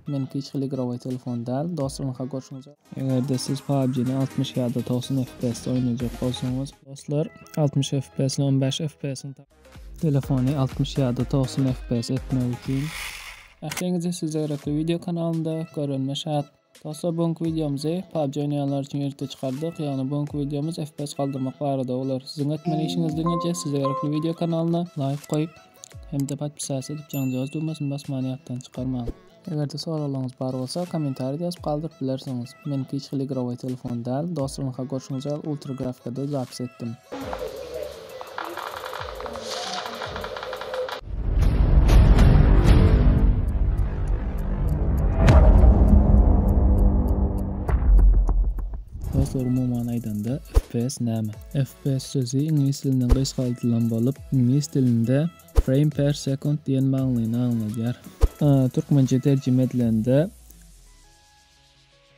Meniňki hiç hili igrowy telefon däl, dostlarymyňka görşüňize. Eger-de siz PUBG-ni altmyş ýa-da togsan FPS-de oýnajak bolsaňyz, dostlar, altmyş FPS-ni on bäş FPS-iň ta. Telefony altmyş ýa-da togsan FPS etmek üçin. Ähliňize size gerekli wideo kanalynda görünme şat. Dostlar bu günki wideomyzy PUBG oýnaýanlar üçin ýerlikde çykardyk. Ýagny bu günki wideomyz FPS galdyrmak barada bolar. Siziň etmeli işiňiz diňeje size gerekli wideo kanalyna laýk goýup hem-de podpisasiýa edip janjagaz düwmesini basmany ýatdan çykarmaň. Eger-de soraglaryňyz bar bolsa kommentarýada ýazyp galdyryp bilersiňiz. Meniňki hiç hili igrowy telefon däl. Dostlar ynha görşüňiz ýaly ultra grafikada zapis etdim. Dostlar umuman aýdanda FPS näme? FPS sözi iňlis dilinden gysgaldylan bolup, iňlis dilinde frame per second diýen manyny aňladýar. Türkmençe terjime edilende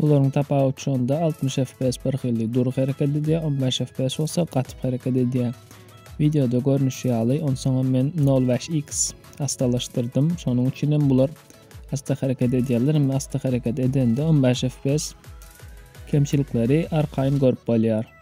Bularyň tapawudy şonda, altmyş fps bir hili dury hereket edýär, on bäş fps bolsa gatyp hereket edýär. Wideoda görnüşi ýaly, onsoňam men nol bäş X asdalaşdyrdym, şonuň üçin hem bular asda hereket edýärler, emma asda hereket edende on bäş fps kemçilikleri arkaýyn görüp bolýar.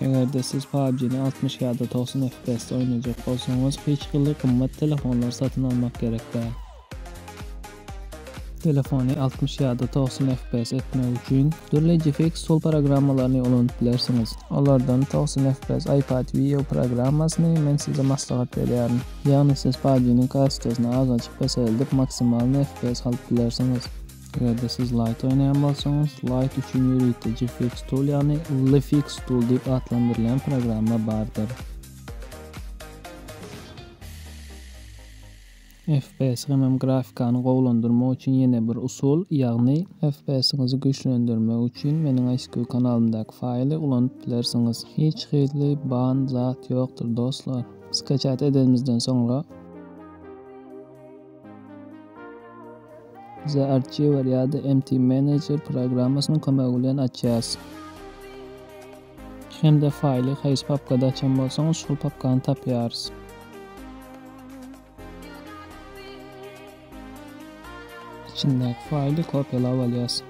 Eger-de siz PUBG-ni altmyş ýa-da togsan FPS-de oýnajak bolsaňyz, hiç hili gymmat telefonlary satyn almak gerek däl. Telefony altmyş ýa-da togsan FPS etmek üçin, dürli GFX Tool programmalaryny ulanyp bilersiňiz. Olardan togsan FPS iPad View programmasyny men size maslahat berýärin. Ýagny siz PUBG-niň kassasyny azajyk peseldip, maksimalny FPS alyp bilersiňiz. Eger-de siz Lite oýnaýan bolsaňyz, Lite üçin ýörite GFX Tool ýagny LFX Tool diýip atlandyrylýan programma bardyr. FPS hemem grafikany gowulandyrmak üçin ýene bir usul, ýagny FPS-iňizi güýçlendirmek üçin meniň ISQ kanalymdaky faýly ulanyp bilersiňiz. Hiç hili ban zat ýokdur dostlar. Skaçat edenimizden soňra. The Archiver ýa-da MT Manager programmasynyň kömegi bilen açýarys. Hem-de faýly haýsy papkada açan bolsaňyz, şol papkany tapýarys. Içindäki faýly kopiýalap alýarys.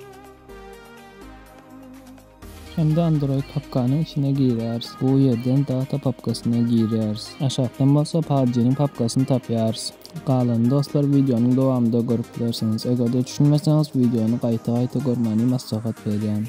Hem-de Android papkanyň içine girýäris. Bu ýerden Data papkasyna girýäris. Aşakdan bolsa PUBG-niň papkasyny tapýarys. Galanyny dostlar wideonyň dowamynda görüp bilersiňiz. Eger-de düşünmeseňiz wideony gaýta-gaýta görmäni maslahat berýän.